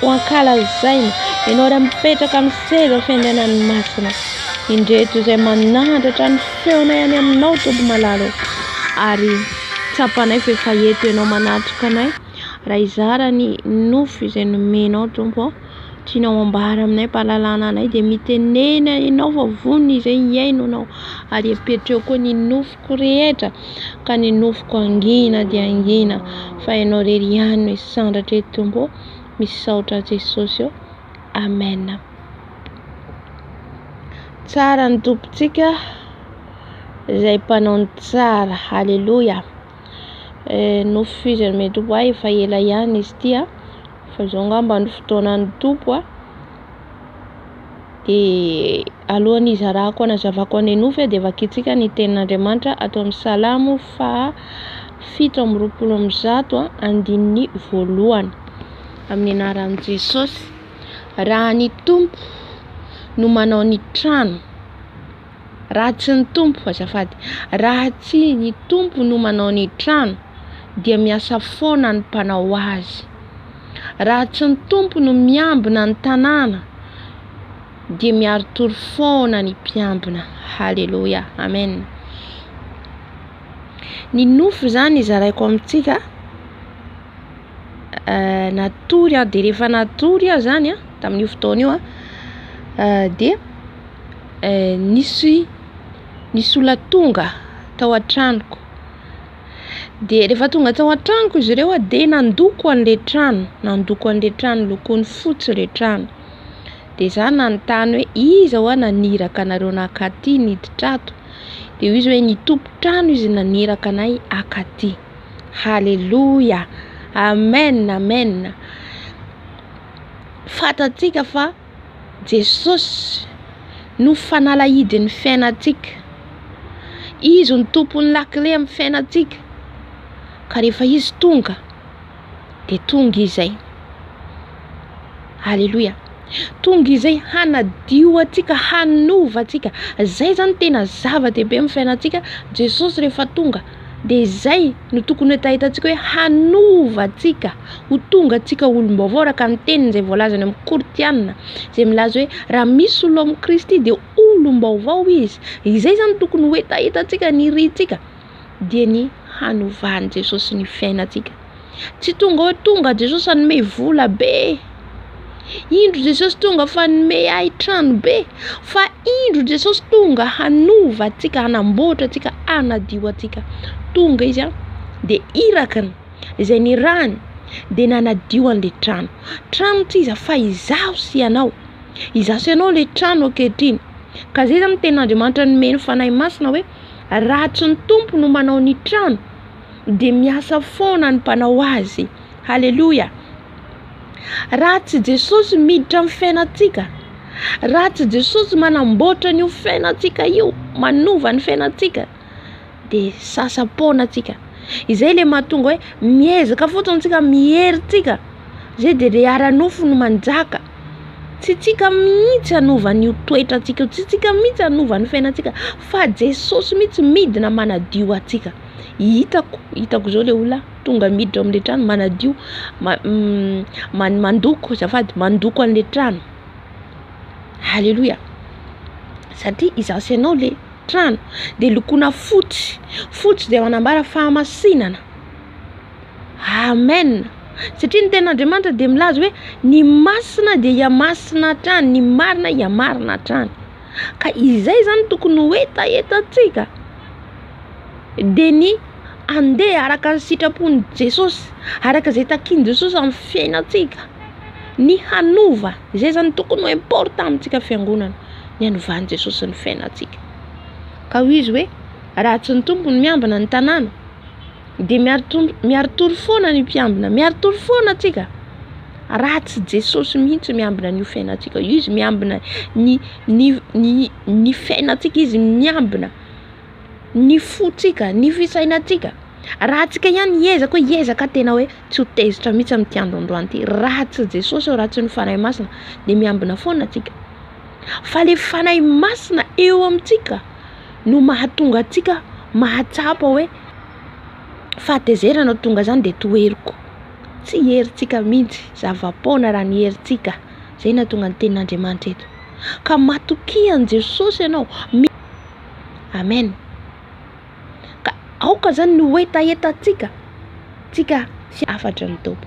Ho ankalazaina ianao iray mipetraka amin'ny seza fiandrianan'ny Masina. Indreto izay manandratra ny feonay any aminao Tompo malala ô. Ary tsapanay fa efa eto ianao manatrika anay raha hizara ny nofo izay nomenao Tompo ô. Tianao ambara aminay ampahalalana anay dia mitenena ianao fa vonona izay hihaino anao ary apetraho koa ny nofoko rehetra ka ny nofoko hangina dia hangina fa ianao irery ihany no hisandratra eto Tompo ô. misaotra Jesosy ô Amen. Tsara ny tompontsika izay mpanao ny tsara haleloia eh, nofizany me tompo ahy efa ela ihany izy tia fa izao ngamba ny fotoanan'ny tompo a Dia alohan'ny hizarako hanazavako an'ilay nofy aho dia vakintsika ny tenin'Andriamanitra ato amin'ny Salamo faha fito amby roapolo amby zato andininy voalohany amin'ny anaran'i Jesosy. Raha ny Tompo no manao ny trano Raha tsy ny Tompo, azafady, raha tsy ny Tompo no manao ny trano dia miasa foana ny mpanao azy. Raha tsy ny Tompo no miambina ny tanàna dia miaritory foana ny mpiambina. Haleloia. Amen. Ny nofo zany zaraiko amintsika eh, natory aho dia rehefa natory aho zany tamin'io fotoana io eh, dia Nisy nisy olona tonga tao an-tranoko, dia rehefa tonga tao an-tranoko izy ireo dia nandoko an'le trano, nandoko an'le trano lokony fotsy le trano, de za nanontany hoe iza hoa naniraka anareo naka aty niditra ato? de hoy izy hoe ny tompon-trano izy naniraka anay haka aty, haleloia, amen, amen, fantatsika fa. Jesosy no fanalahidin'ny fiainantsika. Izy no tompon'ny lakile amin'ny fiainantsika. Ka rehefa Izy tonga, dia tonga Izy izay. Aleloia. Tonga Izy izay hanadio antsika, hanova antsika. Izay izany tena zava-dehibe amin'ny fiainantsika. Jesosy rehefa tonga, dia izay no tokony hetahetantsika hoe hanova antsika ho tonga antsika olom-baovao araka ny teniny izay voalaza any amin'ny Kortiana izay milaza hoe raha misy olona ao amin'ny Kristy dia olom-baovao izy. Izay izany tokony ho hetahetantsika ny irintsika dia ny hanovan'i Jesosy ny fiainantsika. Tsy tonga hoe tonga Jesosy hanome vola be, indro Jesosy tonga fa hanome ahy trano be, fa indro Jesosy tonga hanova antsika, hanamboatra antsika, hanadio antsika. Tonga izy an, dia iraka ny izay nirahany, dia nanadio an'ilay trano. Trano tsy iza fa izaho sy ianao, izaho sy ianao ilay trano ankehitriny. Ka izay zany no tenin'Andriamanitra nomeny Fanahy Masina hoe, raha tsy ny Tompo no manao ny trano, dia miasa foana ny mpanao azy. Haleloia! Raha tsy Jesosy miditra amin'ny fiainantsika, raha tsy Jesosy manamboatra an'io fiainantsika io, manova ny fiainantsika, dia sasa-poana antsika. Izay ilay mahatonga hoe miezaka fotsiny tsika, miery tsika, izay dia ilay ara-nofo no manjaka. Tsy tsika mihitsy hanova an'io toetra antsika io, tsy tsika mihitsy hanova ny fiainantsika, fa Jesosy mihitsy midina manadio antsika. hitako hitako zao le olona tonga miditra ao amle trano manadio man- mandoko azafady mandoko anle trano aleloia satria izaho sy ianao le trano de lokoina fotsy fotsy de manambara fahamasinana amen satria ny tenin'Andriamanitra de milaza hoe ny masina de hihamasina hatrany ny marina hihamarina hatrany ka izay zany tokony ho hetahetantsika dia ny handeha araka ny sitrapon'i Jesosy, araka izay takin'i Jesosy amin'ny fiainantsika, ny hanova, izay zany tokony ho important amintsika fiangonana, ny hanovan'i Jesosy ny fiainantsika, ka hoy izy hoe raha tsy ny Tompo no miambina ny tanàna, Dia miaritory foana ny mpiambina. Miaritory foana tsika. Raha tsy Jesosy mihitsy miambina an'io fiainantsika io. Izy miambina ny, ny, ny, ny fiainantsika. Izy miambina ny fontsika, ny fisainantsika. Raha tsika ihany hiezaka hoe hiezaka aho tena hoe tsy ho tezitra mihitsy amin'ity andro androany ity. Raha tsy Jesosy eo, raha tsy ny Fanahy Masina, dia miambina foana tsika. Fa le Fanahy Masina eo amintsika no mahatonga antsika mahatsapa hoe. fahatezerana no tonga zany dia toheriko tsy herintsika mihitsy zava-poana raha ny herintsika zay no ahatonga ny tenin'Andriamanitra eto ka matokia an'i Jesosy ianao amen ka aoka zany ny ho hetahetantsika tsika sy hafatry ny Tompo